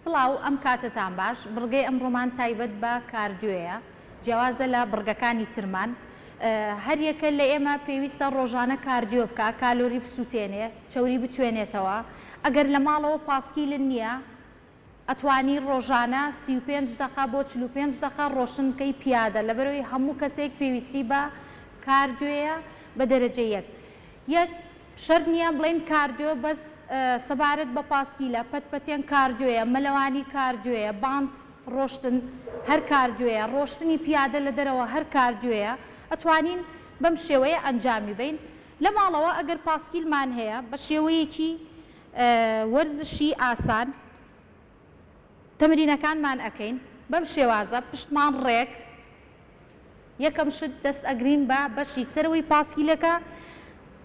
سڵاو، ئەم کاتەتان باش، بڕگەی ئەمڕۆمان تایبەت بە کاردیۆیە، جیاوازە لە بڕگەکانی ترمان. هەریەکە لە ئێمە پێویستە ڕۆژانە کاردیۆ بکا، کالۆری بسووتێنێ، چەوری بتوێنێتەوە. ئەگەر لە ماڵەوە پاسکیلت نییە، ئەتوانی ڕۆژانە سی و پێنج دەقە بۆ چل و پێنج دەقە ڕۆشن بکەی پیادە، لەبەرئەوەی هەموو کەسێک پێویستی بە کاردیۆیە بە دەرەجە یەک. یەک، شەرت نییە بڵێین کاردیۆ بەس سەبارەت بە پاسکیلە، پەت پەتێن کاردیۆیە، مەلەوانی کاردیۆیە، بانت ڕۆشتن هەر کاردیۆیە، ڕۆشتنی پیادە لە دەرەوە هەر کاردیۆیە، ئەتوانین بەم شێوەیە ئەنجامی بەین. لە ماڵەوە ئەگەر پاسکیلمان هەیە بە شێوەیەکی وەرزشی ئاسان، تەمرینەکانمان ئەکەین بەم شێوازە پشتمان ڕێک یەکەم شت دەست ئەگرین بە بەشی سەرەوەی پاسکیلەکە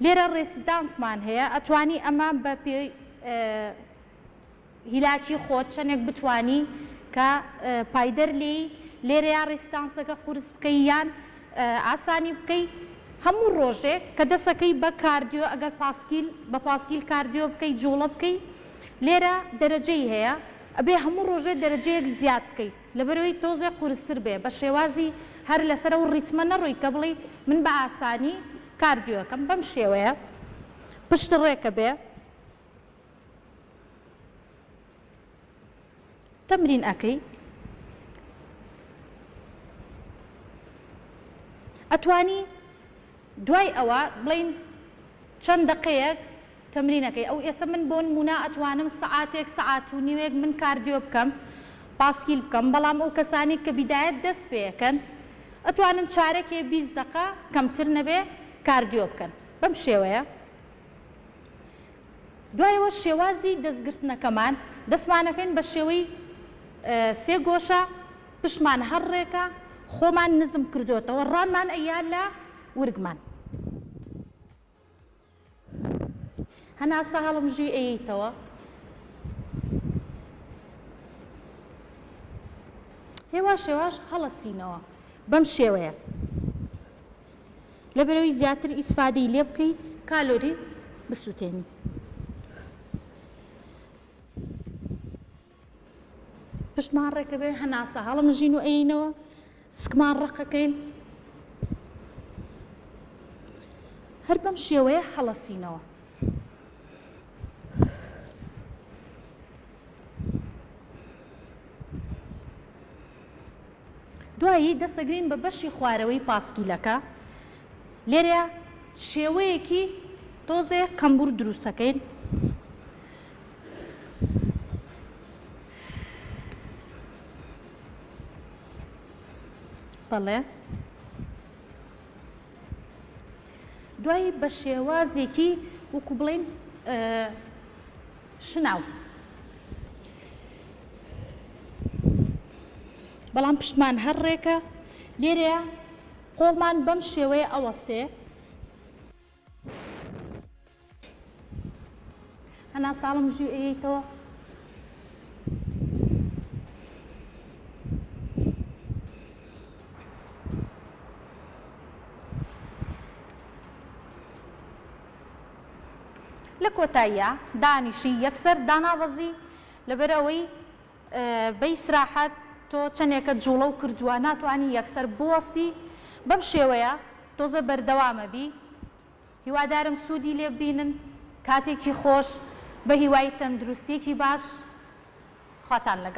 لێرە ڕێسیدانسمان هەیە ئەتوانی ئەمە بە پێ هیلاکی خۆت چەندێک بتانی کە پایدەر لی لێرە یا ڕێسیدانسەکە قورس بکەی یان ئاسانی بکەی هەموو ڕۆژێک کە دەسەکەی بە کاردیۆ ئەگەر پاسکیل بە پاسکیل کاردیۆ بکەی جوڵە بکەی لێرە دەرەجەی هەیە ئەبێ هەموو ڕۆژێ دەرەجەیەک زیاد بکەی لەبەرەوەی تۆزێ قورستر بێ بە شێوازی هەر لەسەر ئەو ڕیتمە نەڕۆی کە بڵێی من بە ئاسانی کاردیۆ ئەکەم بەم شێوەیە پشت ڕێکە بێ. تەمرین ئەکەی ئەتوانی دوای ئەوە بڵین چەند دەقەیەک تەمرینەکەی ئەو ئێسە من بۆن مونا ئەتوانم سەعاتێک سەعات و نیوێک من کاردیۆ بکەم پاسکیل بکەم بەڵام ئەو کەسانی کە بیدایەت دەست پێەکەن ئەتوانن چارەکێ بیست دەقە کەمتر نەبێ کاردیۆ بکەن بەم شێوەیە دوایەوە شێوازی دەستگرتنەکەمان، دەستمانەکەین بە شێوەی سێ گۆشە، پشتمان هەر ڕێکە، خۆمان نزم کردۆتەوە، ڕانمان ئەیا لە ورگمان. هەناسە هەڵمژی ئەیەیتەوە. هێواش هێواش هەڵەسینەوە. بەم شێوەیە. لەبەرئەوەی زیاتر ئیسفادەی لێ بکەی کالۆری بسوتێنی. پشتمان ڕێکەبێ هەناسە هەڵمژین و ئەینەوە سکمان ڕقەکەین هەر بەم شێوەیە هەڵەسینەوە دوایی دەسەگرین بە بەشی خوارەوەی پاسکیلەکە لێرە شێوەیەکی تۆزێ قەمبور دروستەکەین بەڵێ دوایی بە شێوازێکی وکو بڵین شناو. بەڵام پشتمان هەر ڕێکە. لێرەیا قۆڵمان بەم شێوەیە ئەوەستێ. هەنا ساڵم ژی ئەیەیتەوە. لە کۆتاییا دانیشی یەکسەر دانابەزی لەبەر ئەوەی بە ئیسراحەت تۆ چەنێکە جوڵەو کردوە ناتوانی یەکسەر بوەستی بەم شێوەیە تۆزێ بەردەوامە بی هیوادارم سودی لێ ببینن کاتێکی خۆش بەهیوای تەندروستیەکی باش خواتان لەگەڵ.